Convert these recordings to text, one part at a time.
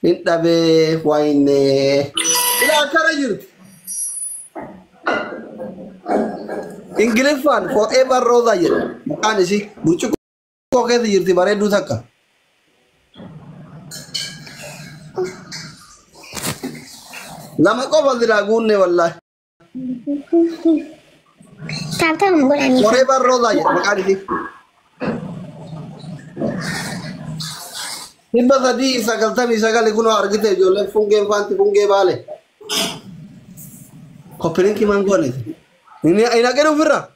Hin dhabee wayinnee. Ila akkana jirti. Ingiliffaan forever roza jedha. Maqaan isii burcuqqoo keessa jirti bareedduu takka. Lama qofa silaa guunne wallaahi. Taaptaa kan godhanii. Koree barrootaa jedha maqaan isii. Dhibba sadii fi sagaltamii sagali kunoo argite ijoolleen fungeen faanti fungee baale. Koppilinkii maan goone. Inni hin haqin ofirra.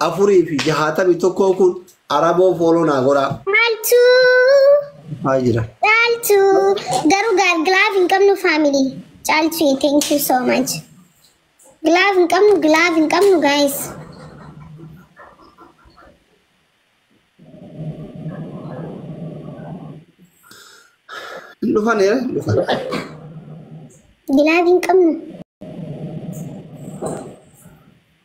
461 kun araboo fooloo naa godhaa. Maaltu Haa jira. caaltu garuu gaal gilaaf hin qabnu faamilii caaltu thank you so much. Gilaaf hin qabnu gilaaf hin qabnu guys. Hin dhufan ee hin dhufan. Gilaaf hin qabnu.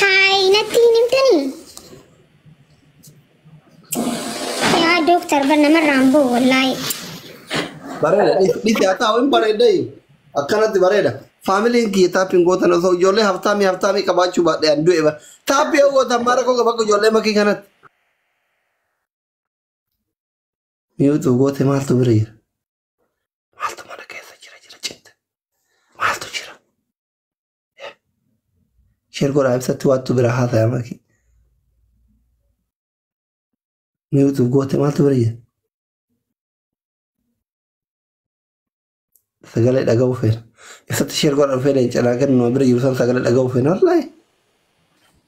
Haay natti hin himtanii? Yaa dooktar bar namarraan boo wallaahi. Bareeda. Dhisi haa ta'u hin bareeda. Akkanatti bareeda. Faamiliin kiyya taappiin gootan osoo ijoollee haftaamii haftaamii qabaachuu baadhee an du'e bara. Taappii yoo gootan maara koo bakka ijoollee makii kanatti. Miyuutu goote maaltu bira jira? Maaltu mana keessa jira jira citte. Maaltu jira? Sheer godhaa ibsatti waattu bira haasaya maki. Miyuutu goote maaltu bira jira? Sagalee dhaga'uu feena. Ibsatti sheer godhaa dhufee leenca naa kennu bira jiru san sagalee dhaga'uu feena. Wallaahi.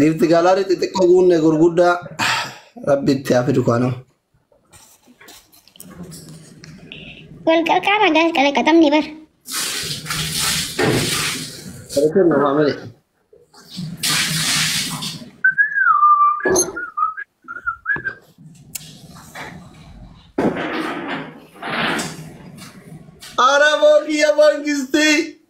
Giifti gaalaarii xixiqqoo guunne gurguddaa rabbi itti haa fidu kaanama. Wal qarqaara gaas qalaqaxamni bar. Barreeffamni nuuf haa malee. Araboo kiyya mangistii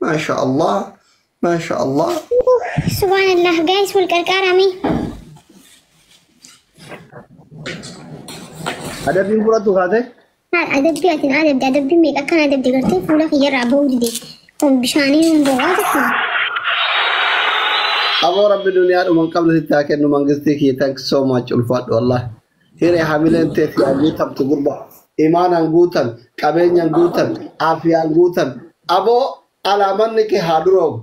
Maasha Allah. Maasha Allah. Subhanallah guys wal qarqaaraa mee. Adabbiin fudhattu kaatee? Haal adabbii atin adabde adabbii meeqa akkan adabde gartee fuula kiyyarraa ba'uu dide. Kun bishaanii hin bo'aa tokko. Aboo rabbi duniyaa dhuman qabna sitti haa kennu mangistii kiyya thanks so much ulfaadhu Allah. Hiree hamileen tee siyaa guutamtu gurba. Imaanaan guutan, qabeenyan guutan, aafiyaan guutan. Aboo alaamanni kee haa duroomu.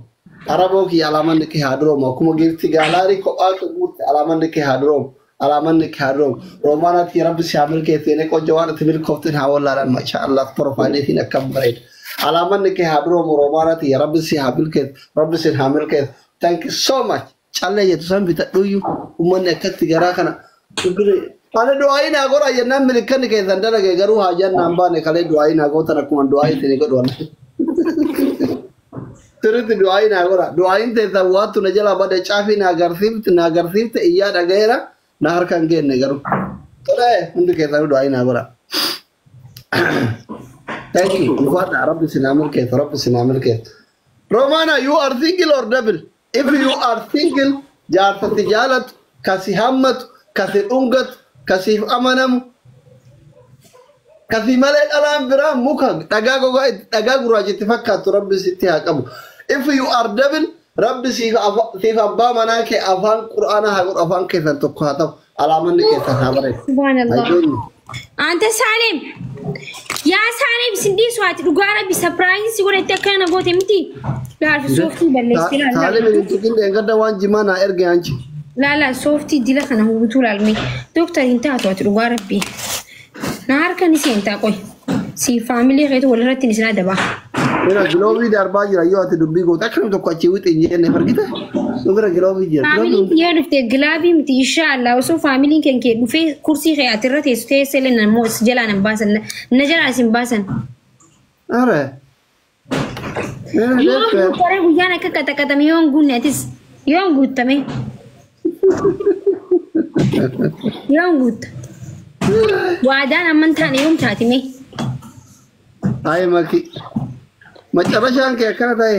Araboo kiyya alaamanni kee haa duroomu. Akkuma giifti gaalaarii kophaa kee guurte alaamanni kee haa duroomu. Alaamanni kee haa duroomu. Roomaanaa tiyya rabbi si haa milkeessu yene qojjo waan ati milkoofteen haa wallaalan mashaa Allah porofaayilii siin akkam bareeda. Alaamanni kee haa duroomu Roomaanaa tiyya rabbi si haa milkeessu rabbi siin haa milkeessu. Thank you so much. Callee jettu san bitadhuuyyu ummanni akkatti garaa kana dhukkire. Ani du'aayii naa godhaa jennaan milikkanni keessan dalage garuu haajaan naan baane kalee du'aayii naa gootan akkuma du'aayii isinii godhu wal. Sirriitti du'aayii naa godhaa. Du'aayiin teessan waattu na jalaa bade caafii naa garsiifte naa garsiifte iyyaa dhagayeera na harka hin geenne garuu. Tolee hundi keessanuu du'aayii naa godhaa. Thank you. Dhufaadhaa rabbi sinaa milkeessu rabbi sinaa milkeessu. Romana you are single or double? If you are single jaarsa si jaalatu, ka si hammatu, ka si dhungatu, ka siif amanamu, ka si malee dhalaan biraa muka dhagaa gogaa itti dhagaa gurraacha itti fakkaattu Rabbi sitti haa qabu. If you are double Rabbi siif afa- siif abbaa manaa kee afaan Qur'aanaa haa godhu afaan keessan tokko haa ta'u. Alaamanni keessan haa bareedu. Subhanallah. Ajoonni. Anta Saalim. Yaa Saalim sin dhiisu ati dhugaa rabbi sapiraayiin si godhatti akkana na goote miti. Laala sooftii balleessee laala. Saalim hin tuqin dheengadda waan jimaa naa erge anchi. Laala sooftii dila kana hubutuu laalmee. Dooktar hin taatu ati dhugaa rabbi. Na harka ni seentaa qoy. Si faamilii keetu walirratti ni sinaa dabaa. Bira giloovii darbaa jira yoo ati dubbii goote akkam tokko achii wixi hin jenne argite nu bira giloovii jira. Faamiliin kiyya dhufte gilaabii miti inshaa Allah osoo faamiliin keen kee dhufee kursii kee ati irra teessu teessee illee namoo si jalaa nan baasan na jalaa isin baasan. Are Yoon guuttare guyyaan akka qaxaqaxame yoon guunne atis yoon guuttame yoon guutta waadaan amman taane yoom taatime Ay maki. Macarashaan kee akkana ta'e.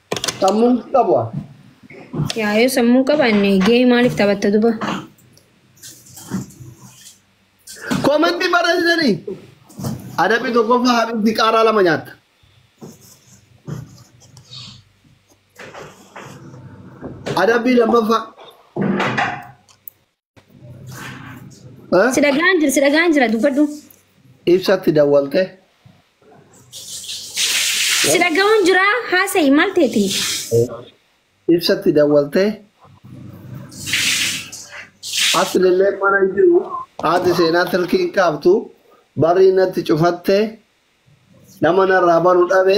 Sammuun qabu haa. Yaa yoo sammuun qabaanne gahee maaliif taphatta duba? Komantii barreessitanii. Adabbii tokkoffaa habiibti qaaraa lama nyaatta. Adabbii lammaffaa. Eh? Si dhagaan jira, si dhagaan jira, dubbadhu. Ibsatti dawwalte. Si dhaga'uun jira, haasa'i maal ta'eeti? Ibsatti dawwalte. Asilillee mana hin jiru. Haati seenaa tilkii hin qabdu. Barri natti cufatte. Nama narraa banu dhabe.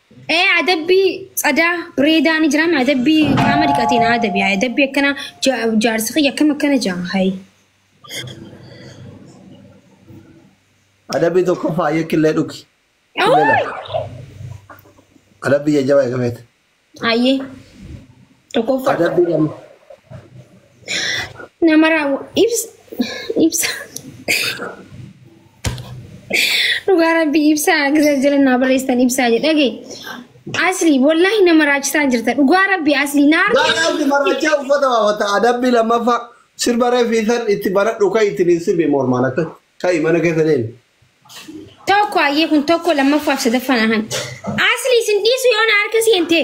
Ee adabbii tsadaa bireedaa ni jiraame adabbii qaama dhiqateen adabi adabbii akkana ja- jaarsi kiyya akkam akkana jaa hayi. Adabbii tokko faayya killee dhugi. Killee lafa. Adabbii jajjabaa eegameeti. Ayyee tokkoffaa. Adabbii lama. Nama raawwa. Ibsa. Ibsa. Dhugaa rabbii ibsaa gisa jala naa barreessitan ibsaa jedhage. Asli wallahi nama raachisaa jirta. Dhugaa rabbii asli naa Baalaatti marachaa uffata baafata adabbii lammaffaa sirba reefiisan itti baradhu kan ittiin hin sirbi mormaan akka ta'i mana keessa deemi. Tokko hayyee kun tokko lammaffaaf sadaffaan ahan. Asli isin dhiisu yoo na harka seente.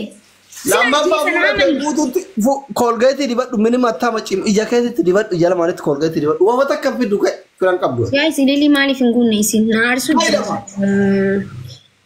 Lammaffaa fuula kee guutuutti koolgeetii dibadhu minima attama cim ija keetitti dibadhu ija lamaanitti koolgeetii dibadhu wama takka fiddu ka'e filan qabdu. Yaa isin lilii maaliif hin guunne isin na aarsuu Fayyadama.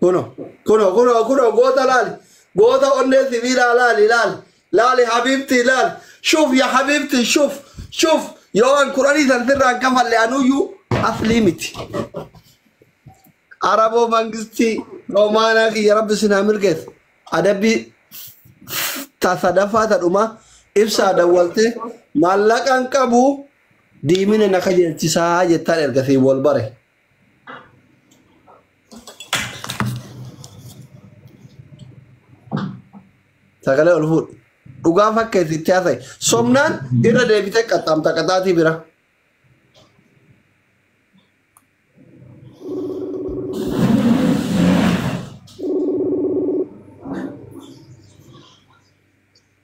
Kuno, kuno, kuno, kuno, goota laali. Goota onnee sibiilaa laali, laali. Laali habiibtii laali. Shuf ya habiibtii shuf, shuf. Yoo an kuranii san sirraan kafalle anuyyuu aslii miti. Araboo mangistii Romaanaa kiyya rabbi sin haa milkeessu. Adabbii ta sadaffaa ta dhumaa ibsaa dawwaltee maallaqaan qabu Diimina na kajeelchisaa jettaan erga siin wal bare. Sagalee ol fuudhi. Dhugaa fakkeessi itti haasa'e. Somnaan irra deebitee qaxxaamta qaxaatii bira.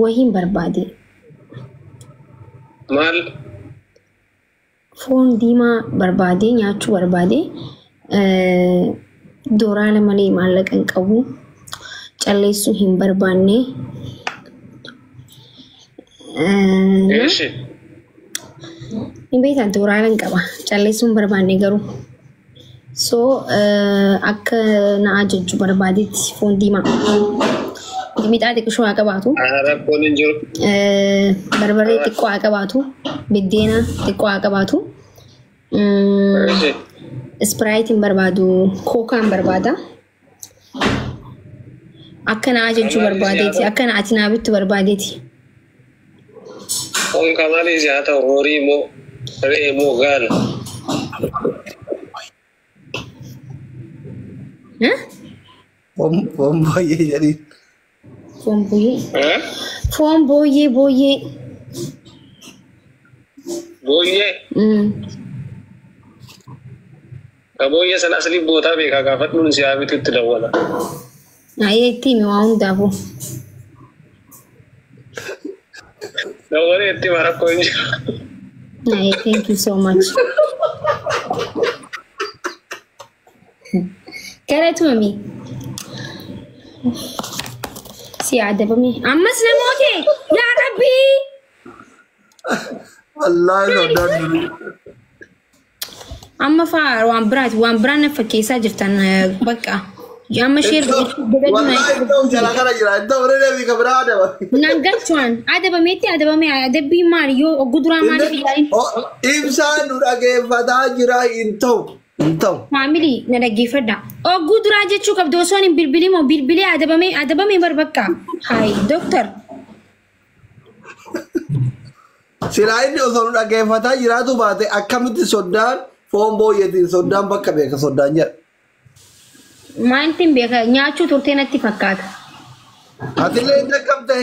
Wahiin barbaade. Maal? Foon diimaa barbaade nyaachuu barbaade. Dooraala malee maallaqa hin qabu. Calleessuu hin barbaanne. Eeshi. Hin beektan tooraalan qaba. Calleessuun barbaanne garuu. So akka na ajajju barbaadetti foon diimaa. Mixaa xiqqishoo haa qabaatu. Rakkoon hin jiru. Barbaree xiqqoo haa qabaatu. Biddeena xiqqoo haa qabaatu. Eeshi. Ispiraayitiin barbaadu kookaan barbaada. Akka na ajajjuu barbaadeeti. Akka na ati naa bittu barbaadeeti. Kun kan malee si haa ta'u horii moo re'ee moo gaala. Eh? Foon foon booyyee jedhiin. Foon booyyee. Eh? Foon booyyee booyyee. Booyyee. Mm. Ka booyyee sana asli bootaa beekaa gaafadhuun si haa bitutti dawwala. Ayee itti himi waa hundaafuu. Dawwalee itti hima rakkoo hin jiru. Ayee thank you so much. Galatoomi. Si adabame. Ammas namoota yaa rabbii. Wallaahi soodaan durii. Amma faa waan biraati waan biraan na fakkeessaa jirtan eh, bakka. Amma sheer Wallaahi iddoo jala kana jira. Iddoo bira deebii kan biraa adaba. Nan galchuwaan adabameetti adabame adabbii maali yoo oggu duraa maaliif ilaalin Ibsaan nu dhageeffataa jira hin ta'u. Hin ta'u. Maamilii na dhaggeeffadha. Ogguu duraa jechuu qabdu osoo hin bilbilin moo bilbilee adabamee adabamee bar bakka. Hayi doktar. Silaa inni osoo nu dhaggeeffataa jiraatu baate akkamitti soddaan foon booyyeetiin soddaan bakka beeka soddaan jedha. Maaltu hin beeka nyaachuu turtee natti fakkaata. Atillee hin dhaqqabdee?